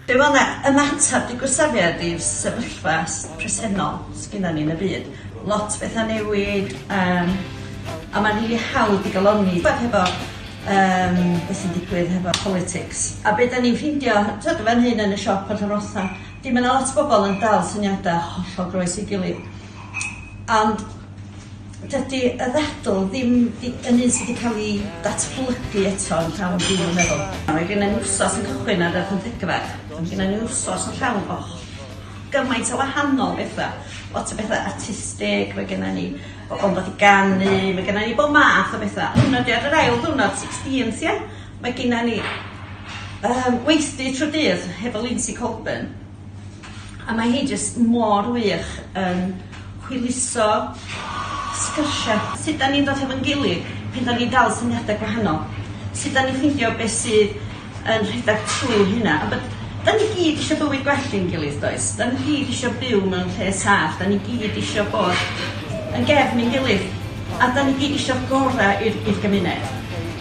Be wel na, ymateb dy gwrthsafiad i'r sefyllfa presennol sgynnon ni yn y byd. Lot o betha'n newid yym a ma'n rili hawdd i galonni t'wod hefo yym be' sy'n digwydd hefo politics. A be' 'dan ni'n ffindio t'wod yn fan hyn yn y siop ar Llanfwrsta, 'di ma' 'na lot o bobol yn dal syniada hollol groes i'w gilydd. Ond Dydy y ddadl ddim di- yn un sy 'di ca'l 'i datblygu eto yn llawn dwi'm yn meddwl. Mae genna ni wsos yn cychwyn ar y pymthegfed, a ma' genna ni wsos yn llawn o gymaint o wahanol betha, lot o betha artistig, ma' genna ni bobol yn dod i ganu, ma' genna ni bob math o betha. Hyd yn o'd ar yr ail ddiwrnod, sixteenth ia, mae genna ni yym weithdy trw'r dydd hefo Lindsay Colburn. A mae hi jyst mor wych yn hwyluso sgyrsia. Sut 'dan ni'n dod hefo'n gilydd pan 'dan ni'n dal syniada gwahanol? Sut 'dan ni'n ffeindio be' sydd yn rhedag trw hynna? A bod... 'dan ni gyd isio bywyd gwell i'n gilydd does? 'Dan ni gyd isio byw mewn lle saff, 'dan ni gyd isio bod yn gefn i'n gilydd, a 'dan ni gyd isio gora' i'r i'r gymuned.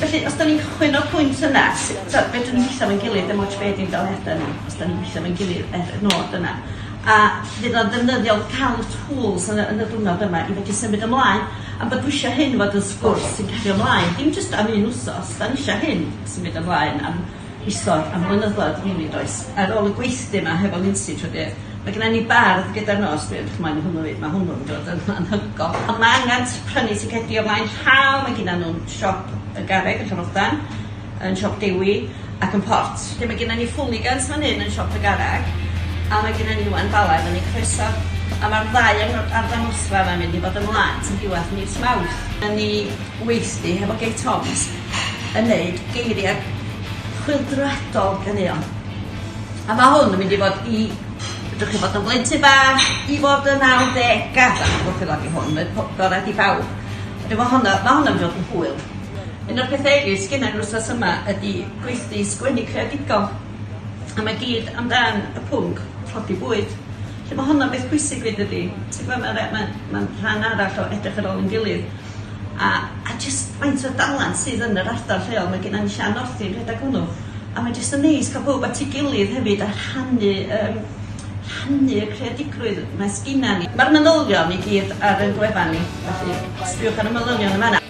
Felly os 'dan ni'n cychwyn o'r pwynt yna, s- t'od fedrwn ni wella 'fo'n gilydd dim ots be' 'di ymdaliada ni. 'dan ni'n gweithio efo'n gilydd er y nod yna, a fydd o'n ddefnyddiol ca'l y tŵls yn y yn y diwrnod yma i fedru symud ymlaen, a bod dwi isio hyn fod yn sgwrs sy'n cario mlaen, dim jyst am un wsos, 'dan ni isio hyn symud ymlaen am isod, am flynyddoedd rili does? Ar ôl y gweithdy 'ma hefo Lindsay trw'r dydd, mae gynna ni bardd gyda'r nos, dwi edrych ymlaen i hwnnw 'fyd, ma' hwnnw'n dod yn anhygoel, a ma' angan t- prynu ticedi o flaen llaw, mae gynna nw'n siop y garreg yn Llangoldan, yn Siop Dewi ac yn Port lle mae genna ni Fwligans fan hyn yn Siop y Garreg a mae genna ni Iwan Bala fyny croeso a mae'r ddau yn yr arddangosfa yma'n mynd i fod ymlaen tan diwedd mis Mawrth. Dan ni weithdy hefo Gay Toms yn neud geiriau chwyldroadol ganeuon a mae hwn yn mynd i fod i fedrwch chi fod yn blentyn bach i fod yn nawdegau wrth ei law i hwn mae po- gorau i bawb a dwi'n meddwl honno mae honno'n mynd i fod yn hwyl. Un o'r pethe erys sgennai yr wsnos yma ydi gweithdy sgwennu creadigol. A mae gyd amdan y pwnc tlodi bwyd. Felly mae honno'n beth pwysig fyd ydi. Ti'n gwybod, mae'n mae, mae, mae rhan arall o edrych ar ôl yn gilydd. A, a jyst faint o dalent sydd yn yr ardal lleol. Mae gennym ni Sian Northy yn rhedeg hwnnw. A mae jyst yn neis cael bwyd at ei gilydd hefyd a rhannu um, rhannu y creadigrwydd mae sgina ni. Mae'r manylion i gyd ar ein gwefan ni, felly sbiwch ar y manylion yn fanna.